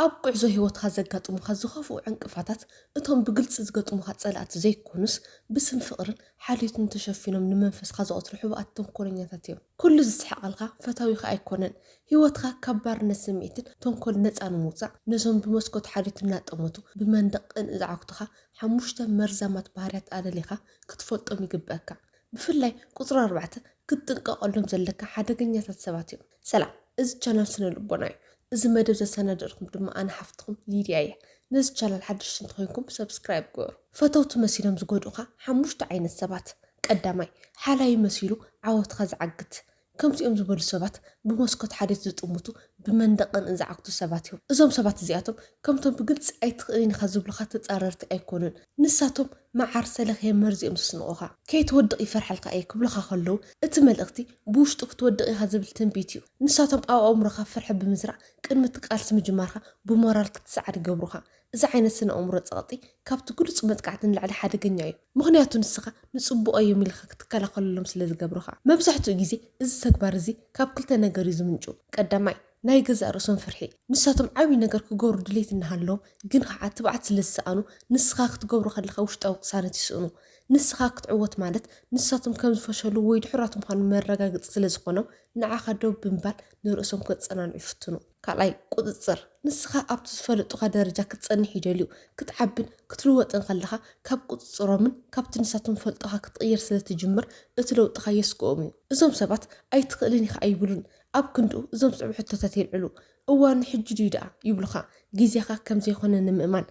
ኣብ ጉዕዞ ህይወትካ ዘጋጥሙኻ ዝኸፍኡ ዕንቅፋታት እቶም ብግልጺ ዝገጥሙኻ ጸላእቲ ዘይኮኑስ፣ ብስም ፍቕርን ሓልዮትን ተሸፊኖም ንመንፈስካ ዘቐትሉ ሕቡኣት ተንኮለኛታት እዮም። ኩሉ ዝስሕቐልካ ፈታዊኻ ኣይኮነን። ህይወትካ ካብ ባርነት ስምዒትን ተንኮልን ነጻ ንምውጻእ፣ ነዞም ብመስኮት ሓልዮት እናጠመቱ ብመንደቕ ቅንኢ ዝዓግቱኻ ሓሙሽተ መርዛማት ባህርያት ኣለሊኻ ክትፈልጦም ይግበኣካ። ብፍላይ ቁጽሪ ኣርባዕተ ክትጥንቀቐሎም ዘለካ ሓደገኛታት ሰባት እዮም። ሰላም እዚ ቻናል ስነ ልቦና እዩ እዚ መደብ ዘሰናደርኩም ድማ ኣነ ሓፍትኩም ሊድያ እያ ነዚ ቻናል ሓድሽቲ እንተኮይንኩም ሰብስክራይብ ግበሩ ፈተውቲ መሲሎም ዝጎድኡካ ሓሙሽተ ዓይነት ሰባት ቀዳማይ ሓላዩ መሲሉ ዓወትካ ዝዓግት ከምዚኦም ዝበሉ ሰባት ብመስኮት ሓዴት ዝጥምቱ ብመንደቅ ቅንእ ዝዓግቱ ሰባት እዮም እዞም ሰባት እዚኣቶም ከምቶም ብግልፂ ኣይትኽእልን ኢካ ዝብሉካ ተፃረርቲ ኣይኮኑን ንሳቶም መዓር ሰለኽየ መርዚኦም ዝስንቑኻ ከይትወድቕ ይፈርሓልካ እየ ክብሉኻ ከለዉ እቲ መልእኽቲ ብውሽጡ ክትወድቕ ኢኻ ዝብል ትንቢት እዩ። ንሳቶም ኣብ ኣእምሮኻ ፍርሒ ብምዝራእ ቅድሚ እቲ ቃልሲ ምጅማርካ ብሞራል ክትሰዓር ይገብሩኻ። እዚ ዓይነት ስነ-ኣእምሮ ጸቕጢ ካብቲ ግሉጽ መጥቃዕቲ ንላዕሊ ሓደገኛ እዩ። ምኽንያቱ ንስኻ ንጽቡቕ እዮም ኢልካ ክትከላኸለሎም ስለ ዝገብሩኻ። መብዛሕትኡ ግዜ እዚ ተግባር እዚ ካብ ክልተ ነገር እዩ ዝምንጩ። ቀዳማይ። ናይ ገዛእ ርእሶም ፍርሒ፣ ንሳቶም ዓብዪ ነገር ክገብሩ ድሌት እናሃለዎም ግን ኸዓ ትብዓት ስለ ዝሰኣኑ ንስኻ ክትገብሮ ከለኻ ውሽጣዊ ቅሳነት ይስእኑ። ንስኻ ክትዕወት ማለት ንሳቶም ከም ዝፈሸሉ ወይ ድሑራት ምዃኖም መረጋገፂ ስለ ዝኾኖም ንዓኻ ደው ብምባል ንርእሶም ከፀናንዑ ይፍትኑ። ካልኣይ፣ ቁፅፅር፣ ንስኻ ኣብቲ ዝፈለጡኻ ደረጃ ክትፀንሕ ይደልዩ። ክትዓብን ክትልወጥን ከለኻ ካብ ቁፅፅሮምን ካብቲ ንሳቶም ዝፈልጡኻ ክትቕይር ስለ ትጅምር እቲ ለውጥኻ የስግኦም እዩ። እዞም ሰባት ኣይትኽእልን ኢኻ ኣይብሉን፣ ኣብ ክንድኡ እዞም ዝስዕቡ ሕቶታት የልዕሉ። እዋኑ ሕጂ ድዩ ደኣ? ይብሉኻ። ግዜኻ ከም ዘይኮነ ንምእማን።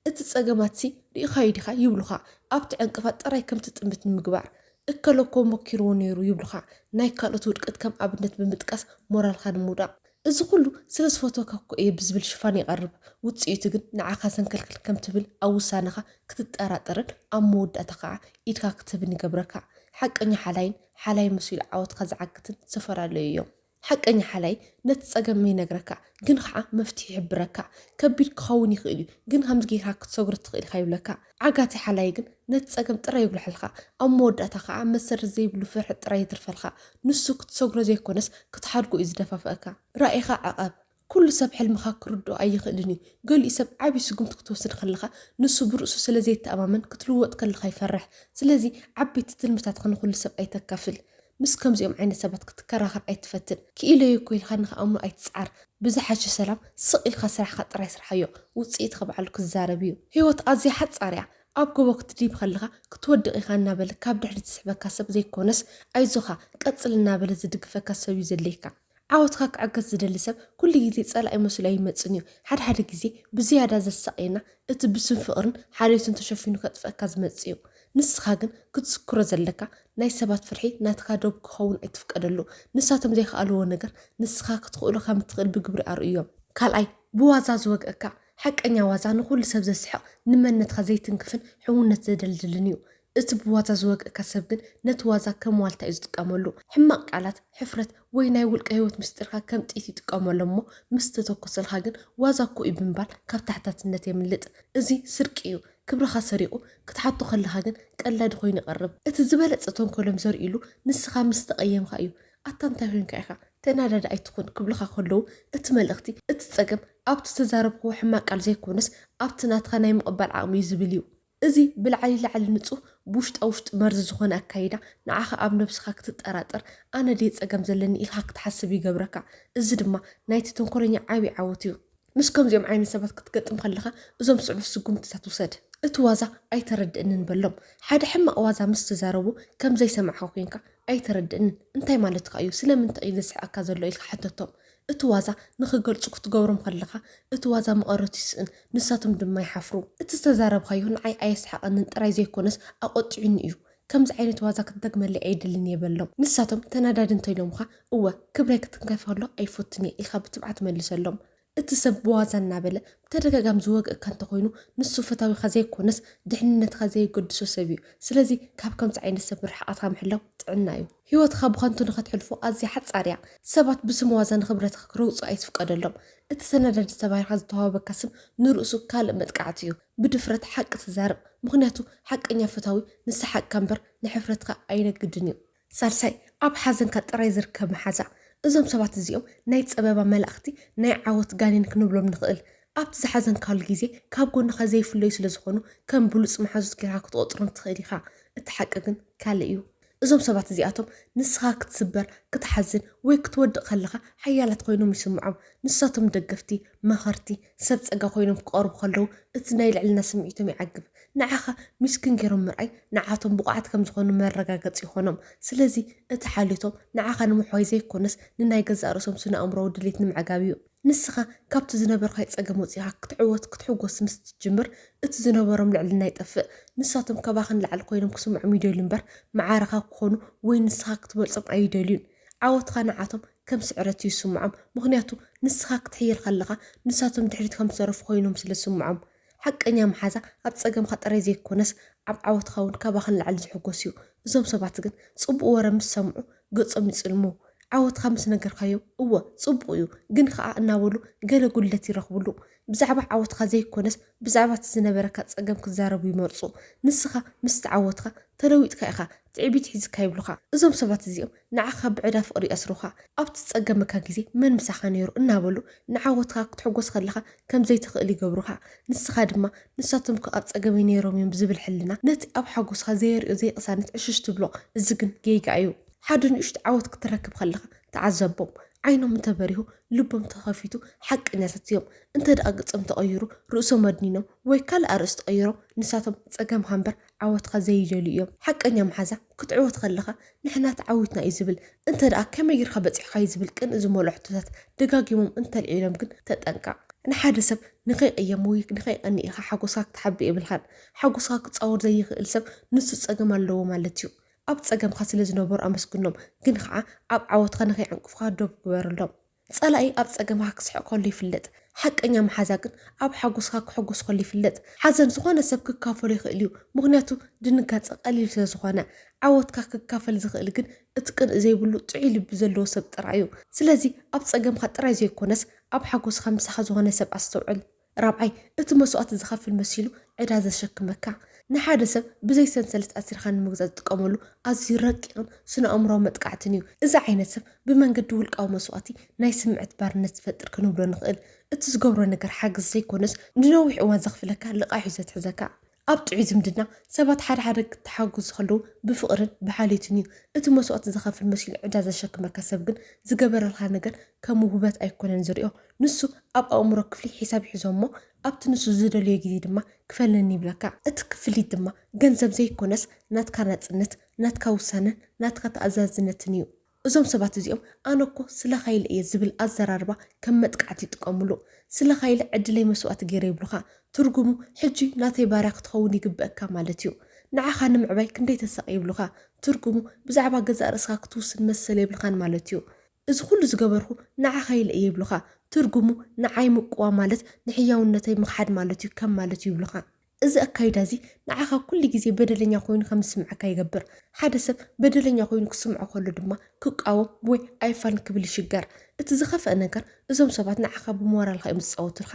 እቲ ጸገማትሲ ርኢኻዮ ዲኻ? ይብሉኻ። ኣብቲ ዕንቅፋት ጥራይ ከም ትጥምት ንምግባር። እከለ እኮ ሞኪርዎ ነይሩ ይብሉኻ። ናይ ካልኦት ውድቀት ከም ኣብነት ብምጥቃስ ሞራልካ ንምውዳቕ። እዚ ኩሉ ስለ ዝፈትወካ እኮ እየ ብዝብል ሽፋን ይቐርብ። ውጽኢቱ ግን ንዓኻ ዘንከልክል ከም ትብል ኣብ ውሳነኻ ክትጠራጠርን ኣብ መወዳእታ ከኣ ኢድካ ክትህብን ይገብረካ። ሓቀኛ ሓላይን ሓላይ መሲሉ ዓወትካ ዝዓግትን ዝተፈላለዩ እዮም። ሓቀኛ ሓላይ ነቲ ጸገም ይነግረካ ግን ኸኣ መፍትሒ ይሕብረካ። ከቢድ ክኸውን ይኽእል እዩ ግን ከምዚ ጌርካ ክትሰግሮ ትኽእል ኢኻ ይብለካ። ዓጋቲ ሓላይ ግን ነቲ ጸገም ጥራይ የጉልሐልካ ኣብ መወዳእታ ኸኣ መሰረት ዘይብሉ ፍርሒ ጥራይ የትርፈልካ። ንሱ ክትሰግሮ ዘይኮነስ ክትሓድጎ እዩ ዝደፋፍኣካ። ራኢኻ ዕቐብ። ኩሉ ሰብ ሕልምኻ ክርድኦ ኣይኽእልን እዩ። ገሊኡ ሰብ ዓቢ ስጉምቲ ክትወስድ ከለኻ ንሱ ብርእሱ ስለ ዘይተኣማመን ክትልወጥ ከለኻ ይፈርሕ። ስለዚ ዓበይቲ ትልምታትካ ንኹሉ ሰብ ኣይተካፍል። ምስ ከምዚኦም ዓይነት ሰባት ክትከራኸር ኣይትፈትን። ክኢለዮ እኮ ኢልካ ንኽኣምኑ ኣይትጽዓር። ብዝሓሸ ሰላም ስቕ ኢልካ ስራሕኻ ጥራይ ስርሓዮ። ውጽኢትካ ባዕሉ ክዛረብ እዩ። ህይወት ኣዝያ ሓጻር እያ። ኣብ ጎቦ ክትድይብ ከለኻ ክትወድቕ ኢኻ እናበለ ካብ ድሕሪት ዝስሕበካ ሰብ ዘይኮነስ ኣይዞኻ ቀጽል እናበለ ዝድግፈካ ሰብ'ዩ ዘድልየካ። ዓወትካ ክዕገት ዝደሊ ሰብ ኩሉ ግዜ ጸላኢ መሲሉ ኣይመጽእን እዩ። ሓደ ሓደ ግዜ ብዝያዳ ዘሳቕየና እቲ ብስም ፍቕርን ሓልዮትን ተሸፊኑ ከጥፍኣካ ዝመጽእ እዩ። ንስኻ ግን ክትዝክሮ ዘለካ ናይ ሰባት ፍርሒ ናትካ ዶብ ክኸውን ኣይትፍቀደሉ። ንሳቶም ዘይከኣልዎ ነገር ንስኻ ክትኽእሎ ከም እትኽእል ብግብሪ ኣርእዮም። ካልኣይ፣ ብዋዛ ዝወግኣካ። ሓቀኛ ዋዛ ንኹሉ ሰብ ዘስሕቕ፣ ንመንነትካ ዘይትንክፍን ሕውነት ዘደልድልን እዩ። እቲ ብዋዛ ዝወግእካ ሰብ ግን ነቲ ዋዛ ከም ዋልታ እዩ ዝጥቀመሉ። ሕማቕ ቃላት፣ ሕፍረት ወይ ናይ ውልቀ ህይወት ምስጢርካ ከም ጥይት ይጥቀመሎም እሞ ምስ ተተኮሰልካ ግን ዋዛ እኮ እዩ ብምባል ካብ ተሓታትነት የምልጥ። እዚ ስርቂ እዩ። ክብርኻ ሰሪቑ ክትሓቶ ከለኻ ግን ቀላዲ ኮይኑ ይቐርብ። እቲ ዝበለጸ ተንኮሎም ዘርእይሉ ንስኻ ምስ ተቐየምካ እዩ። ኣታ እንታይ ኮይንካ ኢኻ? ተናዳዲ ኣይትኹን ክብሉኻ ከለዉ እቲ መልእኽቲ እቲ ጸገም ኣብቲ ዝተዛረብክዎ ሕማቕ ቃል ዘይኮነስ ኣብቲ ናትካ ናይ ምቕባል ዓቕሚ እዩ ዝብል እዩ። እዚ ብላዕሊ ላዕሊ ንጹህ ብውሽጣ ውሽጢ መርዚ ዝኾነ ኣካይዳ ንዓኻ ኣብ ነብስኻ ክትጠራጠር ኣነ ድየ ጸገም ዘለኒ ኢልካ ክትሓስብ ይገብረካ እዚ ድማ ናይቲ ተንኮለኛ ዓቢ ዓወት እዩ። ምስ ከምዚኦም ዓይነት ሰባት ክትገጥም ከለኻ እዞም ስዕብ ስጉምትታት ውሰድ። እቲ ዋዛ ኣይተረድእንን በሎም። ሓደ ሕማቕ ዋዛ ምስ ትዛረቦ ከም ዘይሰማዕካ ኮንካ ኣይተረድእንን እንታይ ማለትካ እዩ ስለምንታይ እዩ ዘስሕቐካ ዘሎ ኢልካ ሕተቶም። እቲ ዋዛ ንኽገልጹ ክትገብሮም ከለኻ እቲ ዋዛ መቐረቱ ይስእን፣ ንሳቶም ድማ ይሓፍሩ። እቲ ዝተዛረብካዮ ንዓይ ኣየስሓቐንን ጥራይ ዘይኰነስ ኣቖጢዑኒ እዩ። ከምዚ ዓይነት ዋዛ ክትደግመለይ ኣይደልን እየ በሎም። ንሳቶም ተናዳዲ እንተ ኢሎምኻ፣ እወ፣ ክብረይ ክትንከፍ ከሎ ኣይፈቱን እየ ኢልካ ብትብዓት መልሰሎም። እቲ ሰብ ብዋዛ እናበለ ብተደጋጋሚ ዝወግእካ እንተ ዀይኑ፣ ንሱ ፈታዊኻ ዘይኰነስ ድሕንነትካ ዘየገድሶ ሰብ እዩ። ስለዚ ካብ ከምዚ ዓይነት ሰብ ርሕቐትካ ምሕላው ጥዕና እዩ። ህይወትኻ ብኸንቱ ንኸትሕልፎ ኣዝያ ሓጻር እያ። ሰባት ብስም ዋዛ ንኽብረትኻ ክረግጹ ኣይትፍቀደሎም። እቲ ሰነዳዲ ተባሂልካ ዝተዋህበካ ስም ንርእሱ ካልእ መጥቃዕቲ እዩ። ብድፍረት ሓቂ ተዛረብ፣ ምኽንያቱ ሓቀኛ ፈታዊ ንሰሓቅካ እምበር ንሕፍረትካ ኣይነግድን እዩ። ሳልሳይ፣ ኣብ ሓዘንካ ጥራይ ዝርከብ መሓዛ። እዞም ሰባት እዚኦም ናይ ጸበባ መላእኽቲ፣ ናይ ዓወት ጋኔን ክንብሎም ንኽእል። ኣብቲ ዝሓዘንካሉ ግዜ ካብ ጎንኻ ዘይፍለዩ ስለዝኾኑ ከም ብሉጽ መሓዙት ጌርካ ክትቖጽሮም ትኽእል ኢኻ። እቲ ሓቂ ግን ካልእ እዩ። እዞም ሰባት እዚኣቶም ንስኻ ክትስበር፣ ክትሓዝን ወይ ክትወድቕ ከለኻ ሓያላት ኮይኖም ይስምዖም። ንሳቶም ደገፍቲ፣ መኸርቲ፣ ሰብ ጸጋ ኮይኖም ክቐርቡ ከለዉ እቲ ናይ ልዕልና ስምዒቶም ይዓግብ። ንዓኻ ሚስኪን ገይሮም ምርኣይ ንዓቶም ብቑዓት ከም ዝኾኑ መረጋገጺ ይኾኖም። ስለዚ እቲ ሓልዮቶም ንዓኻ ንምሕዋይ ዘይኮነስ ንናይ ገዛእ ርእሶም ስነ-ኣእምሮኣዊ ድሌት ንምዕጋብ እዩ። ንስኻ ካብቲ ዝነበርካዮ ጸገም ወጺኻ ክትዕወት ክትሕጎስ ምስ ትጅምር እቲ ዝነበሮም ልዕልና ይጠፍእ። ንሳቶም ከባኺ ንላዕሊ ኮይኖም ክስምዖም ይደልዩ እምበር መዓረኻ ክኾኑ ወይ ንስኻ ክትበልጾም ኣይደልዩን። ዓወትኻ ንዓቶም ከም ስዕረት እዩ ዝስምዖም ምኽንያቱ ንስኻ ክትሕይል ከለኻ ንሳቶም ድሕሪት ከም ዝተረፉ ኮይኖም ስለ ዝስምዖም። ሓቀኛ መሓዛ ኣብ ጸገምካ ጥራይ ዘይኮነስ ኣብ ዓወትካ ውን ካባካ ንላዕሊ ዝሕጎስ እዩ። እዞም ሰባት ግን ጽቡቅ ወረ ምስ ሰምዑ ገጾም ይጽልሙ ዓወትካ ምስ ነገርካዮም እወ ጽቡቅ እዩ ግን ከኣ እናበሉ ገለ ጉድለት ይረክብሉ። ብዛዕባ ዓወትካ ዘይኮነስ ብዛዕባ እቲ ዝነበረካ ጸገም ክዛረቡ ይመርጹ። ንስካ ምስ ተዓወትካ ተለዊጥካ ኢካ ትዕቢት ሒዝካ ይብሉካ። እዞም ሰባት እዚኦም ንዓኻ ብዕዳ ፍቕሪ የስሩኻ። ኣብ ትጸገመካ ግዜ መን ምሳኻ ነይሩ እናበሉ ንዓወትካ ክትሕጎስ ከለኻ ከም ዘይትኽእል ይገብሩኻ። ንስኻ ድማ ንሳቶም እኮ ኣብ ጸገመይ ነይሮም እዮም ብዝብል ሕልና ነቲ ኣብ ሓጎስካ ዘየርእዮ ዘይቅሳነት ዕሽሽ ትብሎ። እዚ ግን ጌጋ እዩ። ሓደ ንእሽቶ ዓወት ክትረክብ ከለኻ ተዓዘቦም። ዓይኖም እንተበሪሁ ልቦም ተኸፊቱ ሓቀኛታት እዮም። እንተድኣ ገጾም ተቐይሩ ርእሶም ኣድኒኖም ወይ ካልእ ኣርእስቲ ቀይሮም ንሳቶም ጸገምካ እምበር ዓወትካ ዘይደልዩ እዮም ሓቀኛ መሓዛ ክትዕወት ከለካ ንሕና ተዓዊትና እዩ ዝብል እንተደኣ ከመይ ጌርካ በጺሕካዩ ዝብል ቅንኢ ዝመልኦ ሕቶታት ደጋጊሞም እንተልዒሎም ግን ተጠንቀቅ ንሓደ ሰብ ንከይቅየም ወይ ንከይቀንእ ኢካ ሓጎስካ ክትሓብእ የብልካን ሓጎስካ ክጻወር ዘይክእል ሰብ ንሱ ጸገም ኣለዎ ማለት እዩ ኣብ ጸገምካ ስለ ዝነበሩ ኣመስግኖም ግን ከኣ ኣብ ዓወትካ ንከይዕንቅፉካ ዶብ ግበረሎም። ጸላኢ ኣብ ጸገምካ ክስሕቕ ከሎ ይፍለጥ፣ ሓቀኛ መሓዛ ግን ኣብ ሓጎስካ ክሕጎስ ከሎ ይፍለጥ። ሓዘን ዝኾነ ሰብ ክካፈሎ ይኽእል እዩ፣ ምኽንያቱ ድንጋጸ ቀሊል ስለ ዝኾነ። ዓወትካ ክካፈል ዝኽእል ግን እቲ ቅንኢ ዘይብሉ ጥዑይ ልቢ ዘለዎ ሰብ ጥራይ እዩ። ስለዚ ኣብ ጸገምካ ጥራይ ዘይኮነስ ኣብ ሓጎስካ ምሳኻ ዝኾነ ሰብ ኣስተውዕል። ራብዓይ፣ እቲ መስዋእቲ ዝኸፍል መሲሉ ዕዳ ዘሸክመካ፣ ንሓደ ሰብ ብዘይ ሰንሰለት ኣሲርካ ንምግዛእ ዝጥቀመሉ ኣዝዩ ረቂቕን ስነ-ኣእምሮኣዊ መጥቃዕትን እዩ። እዚ ዓይነት ሰብ ብመንገዲ ውልቃዊ መስዋእቲ ናይ ስምዕት ባርነት ዝፈጥር ክንብሎ ንኽእል። እቲ ዝገብሮ ነገር ሓገዝ ዘይኮነስ ንነዊሕ እዋን ዘኽፍለካ ልቓሕ እዩ ዘትሕዘካ። ኣብ ጥዑይ ዝምድና፣ ሰባት ሓደ ሓደ ክተሓጎዙ ከለዉ ብፍቕርን ብሓልዮትን እዩ። እቲ መስዋእቲ ዘኸፍል መሲሉ ዕዳ ዘሸክመካ ሰብ ግን ዝገበረልካ ነገር ከም ውህበት ኣይኮነን ዝሪኦ። ንሱ ኣብ ኣእምሮ ክፍሊ ሒሳብ ይሕዞ እሞ ኣብቲ ንሱ ዝደልዮ ግዜ ድማ ክፈለኒ ይብለካ። እቲ ክፍሊት ድማ ገንዘብ ዘይኮነስ ናትካ ናጽነት፣ ናትካ ውሳነን ናትካ ተኣዛዝነትን እዩ። እዞም ሰባት እዚኦም ኣነ እኮ ስለኻ ኢለ እየ ዝብል ኣዘራርባ ከም መጥቃዕቲ ይጥቀምሉ። ስለኻ ኢለ ዕድለይ መስዋእቲ ገይረ ይብሉኻ። ትርጉሙ ሕጂ ናተይ ባርያ ክትኸውን ይግበእካ ማለት እዩ። ንዓኻ ንምዕባይ ክንደይ ተሳቒ ይብሉኻ። ትርጉሙ ብዛዕባ ገዛእ ርእስኻ ክትውስን መሰል የብልኻን ማለት እዩ። እዚ ኹሉ ዝገበርኹ ንዓኻ ኢለ እየ ይብሉኻ። ትርጉሙ ንዓይ ምቅዋም ማለት ንሕያውነተይ ምኽሓድ ማለት እዩ ከም ማለት እዩ ይብሉኻ። እዚ ኣካይዳ እዚ ንዓኻ ኩሉ ግዜ በደለኛ ኮይኑ ከም ዝስምዓካ ይገብር። ሓደ ሰብ በደለኛ ኮይኑ ክስምዖ ከሎ ድማ ክቃወም ወይ ኣይፋልን ክብል ይሽገር። እቲ ዝኸፍኣ ነገር እዞም ሰባት ንዓኻ ብሞራልካ እዮም ዝጻወቱልካ።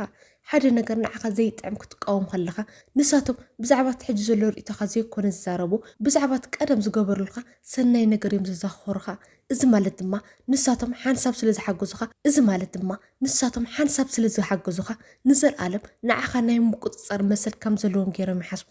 ሓደ ነገር ንዓኻ ዘይጥዕም ክትቃወም ከለኻ ንሳቶም ብዛዕባ እቲ ሕጂ ዘሎ ርእይቶኻ ዘይኮነ ዝዛረቡ ብዛዕባ እቲ ቀደም ዝገበሩልካ ሰናይ ነገር እዮም ዘዛኽኽሩኻ። እዚ ማለት ድማ ንሳቶም ሓንሳብ ስለ ዝሓገዙኻ እዚ ማለት ድማ ንሳቶም ሓንሳብ ስለ ዝሓገዙኻ፣ ንዘልኣለም ንዓኻ ናይ ምቁጽጻር መሰል ከም ዘለዎም ገይሮም ይሓስቡ።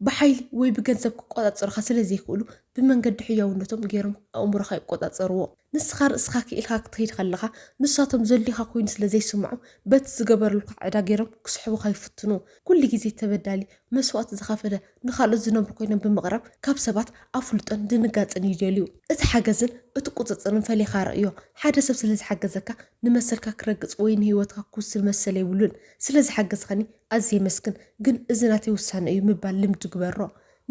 ብሓይሊ ወይ ብገንዘብ ክቆጻጸሩኻ ስለ ዘይክእሉ፣ ብመንገዲ ሕያውነቶም ገይሮም ኣእምሮኻ ይቆጻጸርዎ። ንስኻ ርእስኻ ክኢልካ ክትከይድ ከለኻ፣ ንሳቶም ዘድልዩኻ ኮይኑ ስለ ዘይስምዖም፣ በቲ ዝገበርሉካ ዕዳ ገይሮም ክስሕቡኻ ይፍትኑ። ኩሉ ግዜ ተበዳሊ መስዋእቲ ዝኸፈለ ንኻልኦት ዝነብሩ ኮይኖም ብምቕራብ ካብ ሰባት ኣፍልጦን ድንጋጽን ይደልዩ። እቲ ሓገዝን እቲ ቁጽጽርን ፈሊኻ ርእዮ። ሓደ ሰብ ስለ ዝሓገዘካ ንመሰልካ ክረግጽ ወይ ንህይወትካ ክውስን መሰል የብሉን። ስለ ዝሓገዝካኒ ኣዝየ የመስግን፣ ግን እዚ ናተይ ውሳነ እዩ ምባል ልምዲ ግበሮ።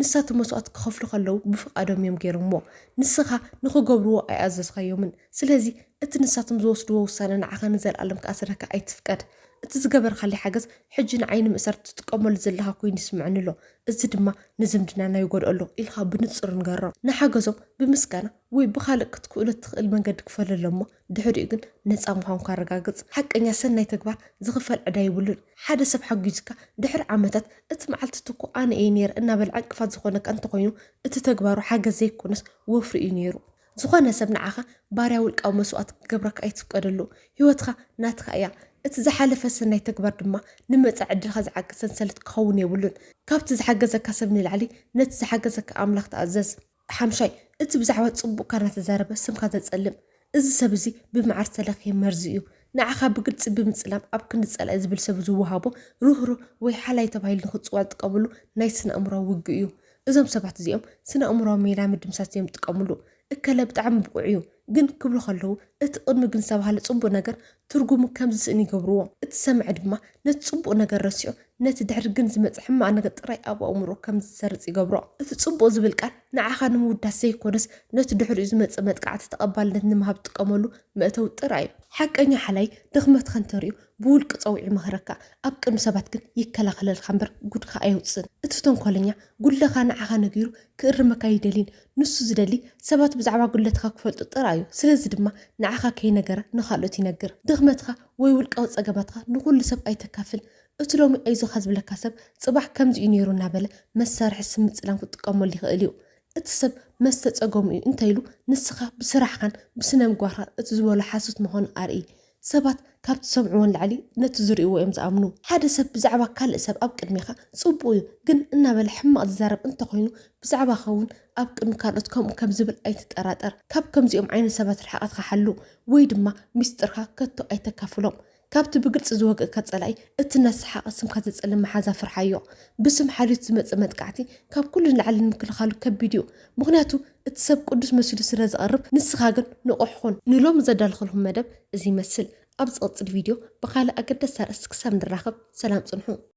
ንሳቶም መስዋእቲ ክኸፍሉ ከለዉ ብፍቓዶም እዮም ገይሮምዎ። ንስኻ ንኽገብርዎ ኣይኣዘዝካዮምን። ስለዚ እቲ ንሳቶም ዝወስድዎ ውሳነ ንዓኻ ንዘልኣለም ክኣስረካ ኣይትፍቀድ። እቲ ዝገበርካለይ ሓገዝ ሕጂ ንዓይ ንምእሳር ትጥቀመሉ ዘለኻ ኮይኑ ይስምዐኒ ኣሎ፣ እዚ ድማ ንዝምድናና ይጎድኦ ኣሎ ኢልካ ብንጹር ንገሮም። ንሓገዞም ብምስጋና ወይ ብኻልእ ክትክእሎ እትኽእል መንገዲ ክፈለሎም እሞ ድሕሪኡ ግን ነጻ ምዃንኩ ኣረጋግጽ። ሓቀኛ ሰናይ ተግባር ዝኽፈል ዕዳ የብሉን። ሓደ ሰብ ሓጊዙካ ድሕሪ ዓመታት እቲ መዓልቲ እቲ እኮ ኣነ እየ ነይረ እናበለ ዕንቅፋት ዝኾነካ እንተኾይኑ እቲ ተግባሩ ሓገዝ ዘይኮነስ ወፍሪ እዩ ነይሩ። ዝኾነ ሰብ ንዓኻ ባርያ ውልቃዊ መስዋእቲ ክገብረካ ኣይትፍቀደሉ። ህይወትካ ናትካ እያ። እቲ ዝሓለፈ ሰናይ ተግባር ድማ ንመጻኢ ዕድልካ ዝዓግት ሰንሰለት ክኸውን የብሉን። ካብቲ ዝሓገዘካ ሰብ ንላዕሊ ነቲ ዝሓገዘካ ኣምላኽ ተኣዘዝ። ሓምሻይ፣ እቲ ብዛዕባ ጽቡቕካ እናተዛረበ ስምካ ዘጸልም እዚ ሰብ እዚ ብመዓር ዝተለኽየ መርዚ እዩ። ንዓኻ ብግልጺ ብምጽላም ኣብ ክንዲ ጸላኢ ዝብል ሰብ ዝወሃቦ ርህሩህ ወይ ሓላይ ተባሂሉ ንኽጽዋዕ ዝጥቀመሉ ናይ ስነ-ኣእምሮኣዊ ውግእ እዩ። እዞም ሰባት እዚኦም ስነ ኣእምሮዊ ሜላ ምድምሳስ እዮም ዝጥቀምሉ። እከለ ብጣዕሚ ብቑዕ እዩ ግን ክብሉ ከለዉ እቲ ቅድሚ ግን ዝተባህለ ጽቡቕ ነገር ትርጉሙ ከም ዝስእን ይገብርዎ። እቲ ሰማዒ ድማ ነቲ ጽቡቕ ነገር ረሲዑ ነቲ ድሕሪ ግን ዝመጽእ ሕማቕ ነገር ጥራይ ኣብ ኣእምሮኡ ከም ዝሰርጽ ይገብሮ። እቲ ጽቡቕ ዝብል ቃል ንዓኻ ንምውዳስ ዘይኮነስ ነቲ ድሕሪኡ ዝመጽእ መጥቃዕቲ ተቐባልነት ንምሃብ ትጥቀመሉ መእተዊ ጥራይ እዩ። ሓቀኛ ሓላይ ድኽመትካ እንተርእዩ ብውልቂ ጸውዒ ይመኽረካ፣ ኣብ ቅድሚ ሰባት ግን ይከላኸለልካ እምበር ጉድካ ኣየውጽእን። እቲ ተንኮለኛ፣ ጉድለኻ ንዓኻ ነጊሩ ክእርመካ ኣይደልይን። ንሱ ዝደሊ፣ ሰባት ብዛዕባ ጉድለትካ ክፈልጡ ጥራይ እዩ። ስለዚ ድማ ንዓኻ ከይነገረ ንኻልኦት ይነግር። ድኽመትካ ወይ ውልቃዊ ጸገማትካ ንኹሉ ሰብ ኣይተካፍል። እቲ ሎሚ ኣይዞኻ ዝብለካ ሰብ፣ ጽባሕ ከምዚ እዩ ነይሩ እናበለ መሳርሒ ስም ምጽላም ክጥቀመሉ ይኽእል እዩ። እቲ ሰብ መስተ ጸገሙ እዩ እንተኢሉ፣ ንስኻ ብስራሕኻን ብስነምግባርካን እቲ ዝበሎ ሓሶት ምዃኑ ኣርእይ። ሰባት ካብ ትሰምዕዎ ንላዕሊ ነቲ ዝርእይዎ እዮም ዝኣምኑ። ሓደ ሰብ ብዛዕባ ካልእ ሰብ ኣብ ቅድሜኻ ጽቡቕ እዩ ግን እናበለ ሕማቕ ዝዛረብ እንተኾይኑ ብዛዕባኻ እውን ኣብ ቅድሚ ካልኦት ከምኡ ከም ዝብል ኣይትጠራጠር። ካብ ከምዚኦም ዓይነት ሰባት ርሕቐትካ ሓሉ ወይ ድማ ሚስጥርካ ከቶ ኣይተካፍሎም። ካብቲ ብግልጺ ዝወግእካ ጸላኢ እቲ እናሰሓቐ ስምካ ዘጸልም መሓዛ ፍርሓዮ። ብስም ሓልዮት ዝመጽእ መጥቃዕቲ ካብ ኩሉ ንላዕሊ ንምክልኻሉ ከቢድ እዩ ምኽንያቱ እቲ ሰብ ቅዱስ መሲሉ ስለ ዝቐርብ ንስኻ ግን ንቑሕ ኹን። ንሎሚ ዘዳለኹልኩም መደብ እዚ ይመስል። ኣብ ዝቕጽል ቪድዮ ብኻልእ ኣገዳሲ ኣርእስቲ ክሳብ ንራኸብ ሰላም ጽንሑ።